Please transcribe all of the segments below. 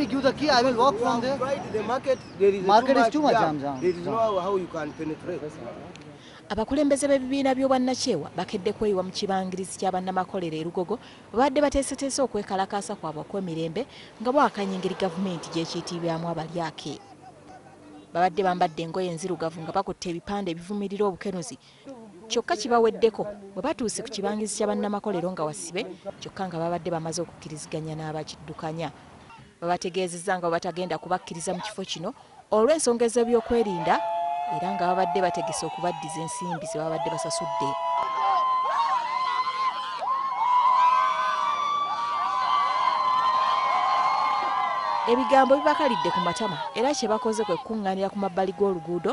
me give the key, I will walk from there. The market, there is market is too much jam. jam. There is no how you can penetrate. abakulembeze b'ebibiina by'obwannakyewa bakedde kweyiwa mu kibangirizi kya bannamakolero e lugogo babadde bateeseteese okwekalakaasa kwabwe okw'emirembe nga bwakanya engeri gavumenti gyekiitiibyamu abalyake babadde bambadde engoye enzirugavu nga bakutte ebipande ebivumirira obukenuzi Kyokka kibaweddeko bwe batuuse ku kibangirizi kya bannamakolero nga wasibe kyokka nga baabadde bamaze okukkiriziganya n'abakiddukanya. Babategeezezza nga bwe batagenda kubakkiriza mu kifo kino olw'ensonga ez'ebyokwerinda era nga babadde bategese okubaddiza ensimbi ze babadde basasudde. Ebigambo bibakalidde ku matama era kye bakoze kwe kukuŋŋaanira ku mabbali g'oluguudo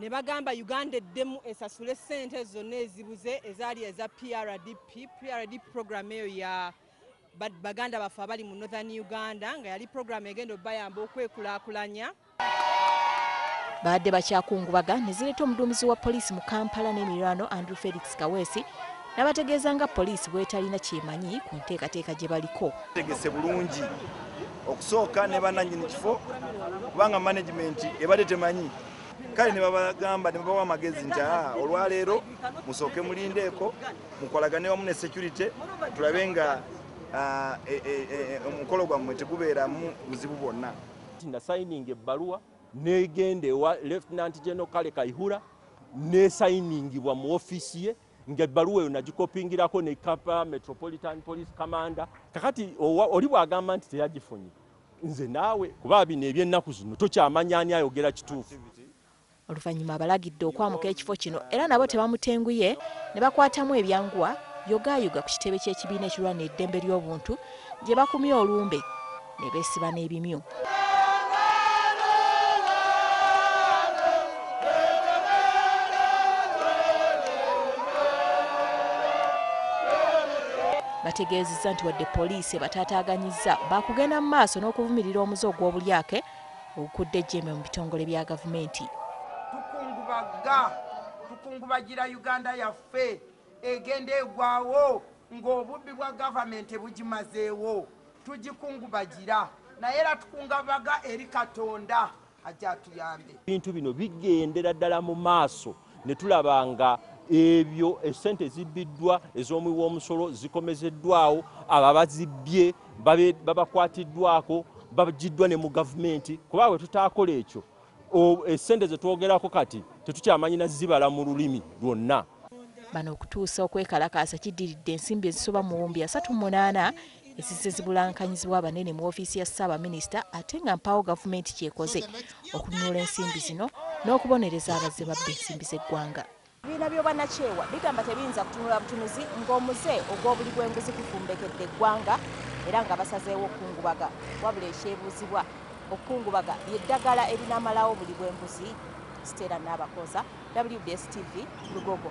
ne bagamba Uganda eddemu esasule ssente zonna ezibuze ezaali eza PRDP, PRDP program eyo ya baganda baffe abali mu Northern Uganda nga yali program egenda obayamba okwekulaakulanya. Baadde bakyakungubaga ne zireeta omuduumizi wa poliisi mu Kampala n'emiriraano Andrew Felix Kaweesi, Nabategeeza nga poliisi bwetalina kyemanyi ku nteekateeka gye baliko. Tegese bulungi okusooka ne bananyini kifo kubanga management ebadde temanyi kale ne babagamba ne babawa amagezi nti aa olwaleero musooke mulindeeko mukolagane wamu ne security tulabe nga e, e, e, omukolo gwammwe tegubeeramu buzibu bwonna. Nasayininga ebbaluwa negenda ewa Lieutenant General Kale Kaihura nesayiningibwa mu ofiisi ye. ng'ebbaluwa eyo nagikopingirako ne kapa metropolitan police commander kakati oli bw'agamba nti teyagifunye nze naawe kuba bino eby'ennaku zino tokyamanya ani ayogera kituufu oluvannyuma abalagidde okwamuka ekifo kino era nabo tebamutenguye ne bakwatamu ebyanguwa yogaayuga ku kitebe ky'ekibiina ekirwanira eddembe ly'obuntu gye bakumye olumbe ne beesiba n'ebimyu. bategeezezza nti wadde poliisi ebataataaganyizza baakugenda mu maaso n'okuvumirira omuze ogw'obulyake ogukudde ejjembe mu bitongole bya gavumenti tukungubagga tukungubagira uganda yaffe egenda egwawo ng'obubbi bwa gavumenti bugimazeewo Tugikungubagira naye era tukungabaga eri Katonda ajje atuyambe. Ebintu bino bigendera ddala mu maaso ne tulaba nga ebyo essente ezibbiddwa ez'omuwi w'omusolo zikomezeddwawo, abo abazibbye babakwatiddwako, baggyiddwa ne mu gavumenti kuba bwe tutaakola ekyo Essente ze twogerako kati tetukyamanyi na zibala mu lulimi lwonna. Bano okutuusa okwekalakaasa kiddiridde ensimbi ezisoba mu buwumbi asatu munaana ezizze zibulankanyizibwa abanene mu ofiisi ya ssaabaminisita ate nga mpaawo gavumenti kyekoze okununula ensimbi zino n'okubonereza abazze babba ensimbi z'eggwanga. Ebibiina by'obwannakyewa bigamba tebiyinza kutunula butunuzi ng'omuze ogw'obuli bw'enguzi gufumbekedde eggwanga era nga basazeewo okukungubaga. Wabula ekyebuuzibwa, okukungubaga lye ddagala erinamalawo buli bw'enguzi? Stella Nabakooza, WBS TV, Lugogo.